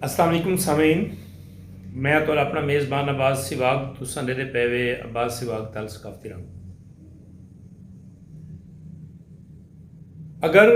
السلام علیکم سامعین میں تو اپنا میزبان عباس سواگ تساں دے دے پیوے عباس سواگ تل ثقافتی رنگ اگر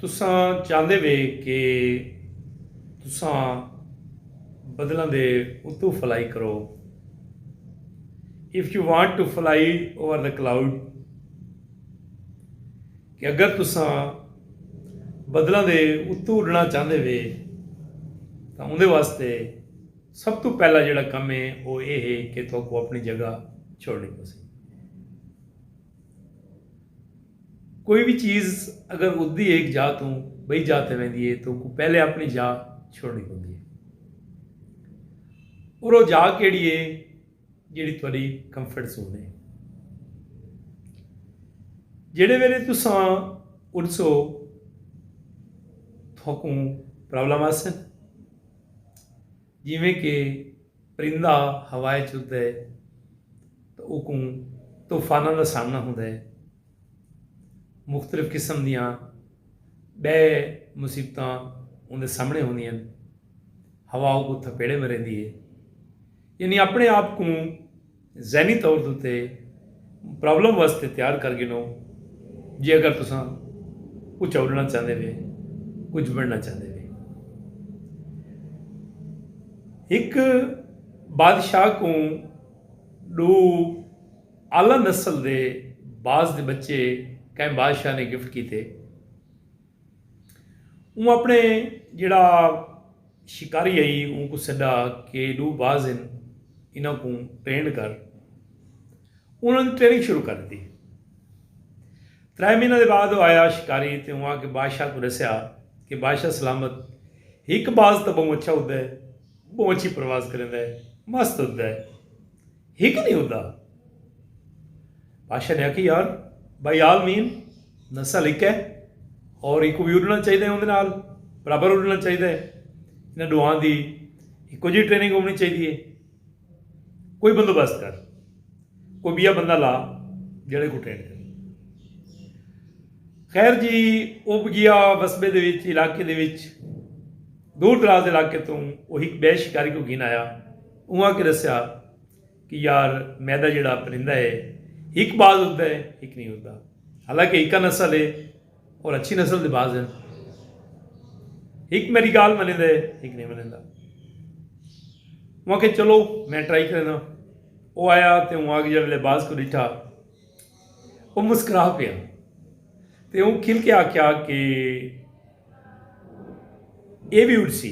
تساں چاہندے وے کہ تساں بدلن دے اتو فلائی کرو if you want to fly over the cloud کہ اگر تساں بدلاں دے اتوں اڈنا چاہندے وے تاں اوندے واسطے سب توں پہلا جڑا کم ہے او اے ہے کہ تہاکوں اپنی جگہ چھوڑنی پسی۔ کوئی وی چیز اگر اڈدی ہے ایک جاہ توں بئی جاہ تے ویندی ہے تو کو پہلے اپنی جاہ چھوڑنی پوندی ہے۔ اور او جاہ کیڑی ہے جیڑھی تہاݙی کمفرٹ زون ہے۔ جیڑھے ویلے تساں اٹھسو تہاکوں پرابلم آسن جیویں کہ پرندہ ہوائے چ اڈدا ہے تو اوکوں طوفاناں دا سامنا ہوندا ہے مختلف قسم دیاں بے مصیبتاں اوندے سامنے ہوندیاں ہن ہوا اوکوں تھپیڑے مریندی ہے یعنی اپݨے آپ کوں ذہنی طور دے اتے پرابلم واسطے تیار کر گھنو جے اگر تساں کچھ اݙݨا چاہندے وے کچھ بݨنا چاہندے وے ہک بادشاہ کوں ڈو اعلی نسل دے باز دے بچے کہیں بادشاہ نے گفٹ کیتے اوں اپݨے جیڑھا شکاری ہئی اوں کوں سݙا کہ ݙو باز ہن انہاں کوں ٹرینڈ کر انہاں دی ٹریننگ شروع کر ݙتی ترے مہینہ دے بعد او آیا شکاری تے اوں آ کے بادشاہ کوں ݙسیا کہ بادشاہ سلامت ہک باز تاں بہوں اچھا اݙدا ہے بہوں اچھی پرواز کریندا ہے مست اݙدا ہے ہک نہیں ہوندا بادشاہ نے آخی یار بھائی آل مین نسل ایک ہے اور ایک بھی اڈنا چاہیے اندر نال برابر اڈنا چاہیے انہیں ڈوان دی ایکو جی ٹریننگ ہونی چاہیے کوئی بندوبست کر کوئی بیا بندہ لا جڑے کو ٹرین کر خیر جی وہ گیا وسبے دے وچ علاقے دے وچ دور دراز علاقے تو وہ ایک بے شکاری کو گھن آیا اوہاں کے ڈسیا کہ یار میڈا جیڑا پرندہ ہے ہک باز اڈدا ہے ہک نہیں اڈدا حالانکہ ہکا نسل ہے اور اچھی نسل دے باز ہیں ہک میری گال منیندا ہے ہک نہیں منیندا اوہاں کے چلو میں ٹرائی کرنا او آیا تے اوہاں کے جڑے باز کو ڈٹھا او مسکرا پیا تے اون کھل کے آکھیا کہ اے بھی اڈسی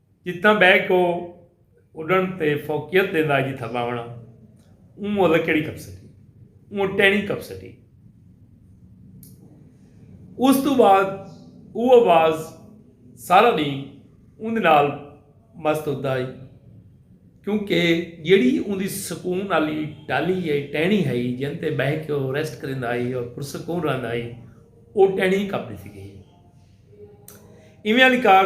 جتھاں ٻہہ کو اݙݨ تے فوقیت ݙیندا ہئی جتھاں ٻہوݨا اوں مہلت کیڑھی کپ سٹی اوں ٹہنی کپ سٹی اس تو بعد او آواز سارا ݙینھ اوندے نال مست ہوندا ہئی کیونکہ جیڑھی اوندی سکون آلی ٹالی یا ٹہنی ہئی جن تے ٻہہ کے او ریسٹ کریندا ہئی اور پرسکون رہندا ہئی او ٹہنی کپ ݙتی گئی ایویں آلی کار